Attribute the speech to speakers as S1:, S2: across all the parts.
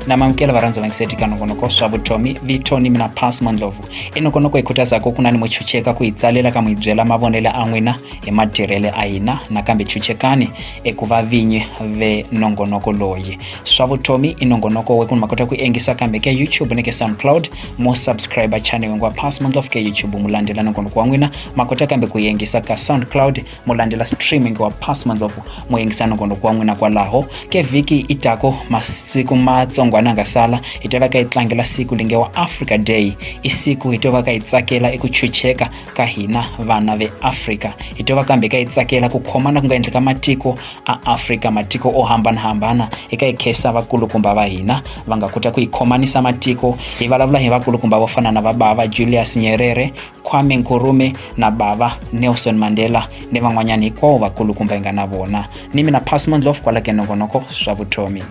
S1: na mamukela varhandzi va ngiseti ka nongonoko swa vutomi vito ni mina pas mandlovu i nongonoko yi khutazaka ku na ni muchucheka ku yi tsalela ka mu yi byela mavonelo a n'wina hi matirhele a hina nakambe chuchekani eku va vinyi ve nongonoko loyi swa vutomi i nongonoko wekunhu ma kota ku engisa kambe ke youtube ni ke soundcloud mo subscriber channel wengwa pass ma ndlofu ke youtube mu landzela nongonoko wa n'wina ma kota kambe ku yengisa ka soundcloud mu landzela streaming wa pass ma ndlofu mu yengisa nongonoko wa n'wina kwalaho ke vhiki i tako masiku matsongwana nga sala hi to va ka yi tlangela siku linge wa africa day i siku hi to va ka yi tsakela eku chucheka ka hina vana ve africa hi to va kambe ka yi tsakela ku khomana ku nga endleka matiko a afrika matiko o hambanahambana hi ka hi khensa vakulukumba va hina va nga kota ku hi khomanisa matiko hi vulavula hi vakulukumba vo fana na vabava julius nyerere kwame nkurume na bava nelson mandela ni van'wanyana hikwavo vakulukumba hi nga na vona ni mina pasmondlof kwala ke nongonoko swa vutomi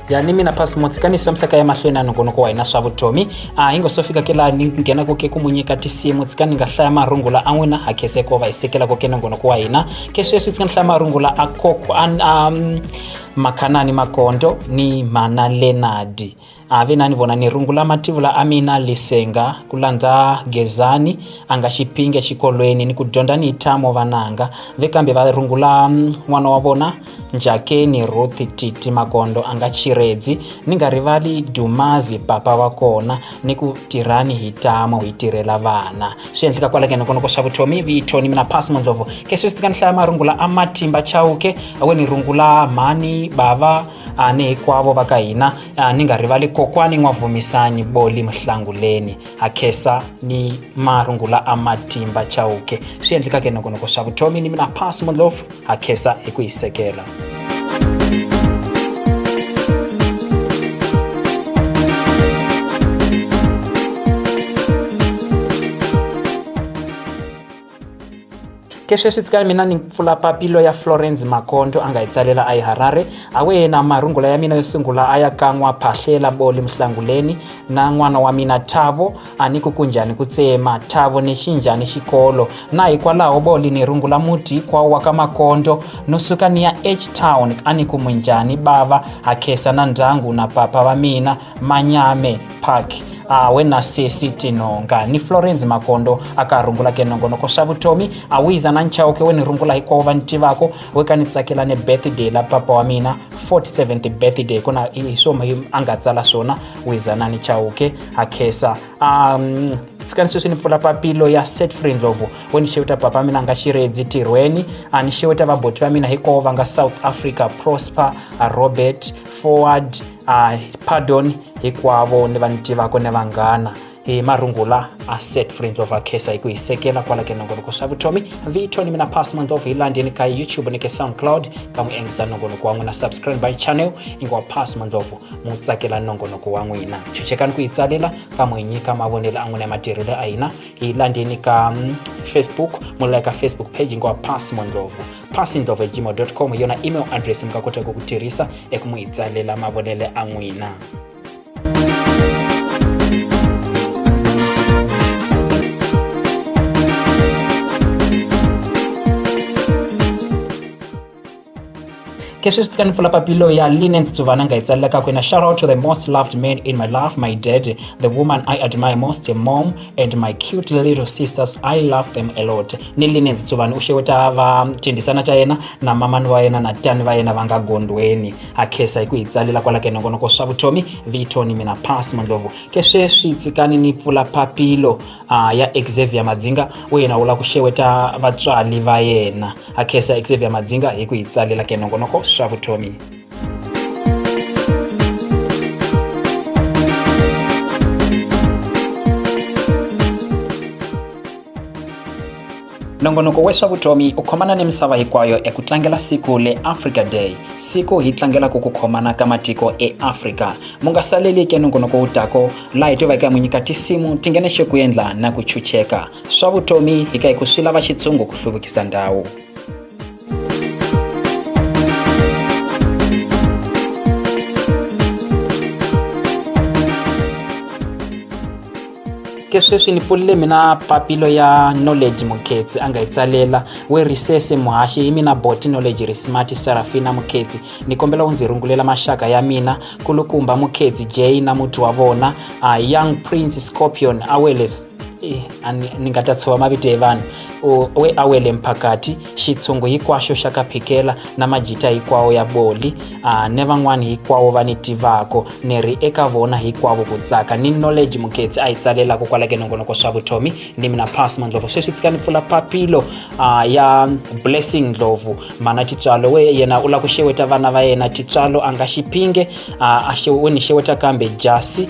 S1: ya ni mina pasi mutsikaniso misaka ya mahlweni na nongonoko wa hina swa vutomi a hi ngo so fika ke laha ni nghenaka ke ku mu nyika tinsimu tsika ni nga hlaya marungula a n'wina ha kheseko va hi sekelaka ke nongonoko wa hina ke sweswi tsika ni hlaya marungula a koko a um, makhanani makondo ni mana lenadi a vi na ni vona ni rungula mativula a mina lisenga ku landza gezani a nga xiphingi exikolweni ni ku dyondza ni tamo vananga ve kambe va rungula mm, n'wana wa vona njakeni ruthi titi magondo a nga chiredzi ni nga rivali dumazi papa wa kona ni ku tirhani hi tamo hi tirhela vana swi endleka kwala ke nokonoko swa vutomi vito ni mina pasi mondlovo ke swi swi tika ni hlaya marungula a matimba chauke awe ni rungula mhani bava a ni hikwavo va ka hina a ni nga rivali kokwani n'wavhumisanyi boli muhlanguleni ha khesa ni marungula a matimba chauke swi endlekake nokonoko swa vutomi ni mina pass molofu ha khesa hi ku hisekela ke sweswi tsika mina ni pfula papilo ya florence makondo a nga hi tsalela a yi harare a wena marungula ya mina yo sungula a ya kan'wa phahlela boli muhlanguleni na n'wana wa mina thavo a ni ku kunjhani ku tsema thavo ni xinjhani xikolo na hikwalaho boli ni rungula muti hinkwawo wa ka makondo no suka ni ya h town a ni ku munjhani bava ha khesa na ndyangu na papa va mina manyame park awe na sesi tinonga ni florence makondo aka rungula ke nongonoko swa vutomi a wiza na nchawuke we ni rungula hikwavo va ni tivako we ka ni tsakela ni birthday la papa wa mina 47th birthday ku na hi swoma a nga tsala swona wiza na ni chawuke a khesa um tsikani sweswi ni pfula papilo ya set free ndlovu we ni xeweta papa mina nga xiredzi tirhweni a ni xeweta vaboti va mina hikwavo va nga south africa prosper robert forward uh, pardon hinkwavo ni va ni tivako ni vanghana hi marungula a set free ndlova khesa hi ku hi sekela kwala ke nongonoko swa vutomi vito ni mina pass mandlova hi landeni ka youtube ni ke soundcloud ka n'wi endlisa nongonoko wa n'wina subscribe by channel ingiwa pass mandlovo mu tsakela nongonoko wa n'wina chuchekani ku hi tsalela ka mu hi nyika mavonelo a n'wina ya matirhelo a hina hi landeni ka mm, facebook mu like ka facebook page ingiwa pass mandlovo passingdovegmail.com yona email address mi nga kotaka ku tirhisa eku n'wi tsalela mavonele a n'wina ke swi swi tika ni pfula papilo ya linen tsuvana nga yi tsalelaka kwina shout out to the most loved man in my life my dad the woman i admire most mom and my cute little sisters i love them a lot nelinenzi tsuvani u xeweta vatendhisana ta yena na mamani wa yena na tani va yena va nga gondweni ha khesa hi ku hi tsalela kwala ke nongonoko swa vutomi vito ni mina pas mandlovu ke sweswi tsikani ni pfula papilo uh, ya xavier madzinga u yena wu lava ku xeweta vatswali va yena ha khesa xavier madzinga hi ku hi tsalela ke nongonoko swa vutomi nongonoko wa swa vutomi u khomana ni misava hinkwayo eku tlangela siku le africa day siku hi tlangelaka ku khomana ka matiko eafrika mu nga saleli ke nongonoko wu tako laha hi tivaka mu nyika tinsimu ti nghene xeku endla na ku chucheka swa vutomi hi ka hi ku swi lava xitsungo ku hluvukisa ndhawu ke sweswi ni pfulile mina papilo ya knowledge mukhetsi a nga yi tsalela we risese muhaxi hi mina boti knowledge ri smart serafina mukhetsi ni kombela u ndzi rungulela maxaka ya mina kulukumba mukhetsi jay na muti wa vona uh, young prince scorpion aweles Eh, a ni ni nga ta tshuva mavito ya vanhu O- we a wele mphakati xitshungu hinkwaxo xa ka phikela na majita hinkwawo ya boli a ni van'wani hinkwawo va ni tivako ni ri eka vona hikwavo ku tsaka ni knowledge muketsi a yi tsalelaka kwala ke nongonoko swa vutomi ni mina pas mandlovu sweswi tsika ni pfula papilo a ya blessing ndlovu mana titswalo we yena u lava ku xeweta vana va yena titswalo a nga xiphinge a a xew- we ni xeweta kambe jasi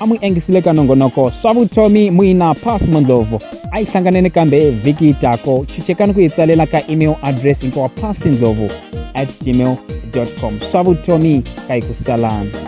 S1: a mu engisile ka nongonoko swa vutomi muina pass mondlovu a yi hlanganeni kambe vhiki tako chuchekani ku yi tsalela ka email address hinkwawa pass ndlovu at gmail com swa vutomi ka yi ku salana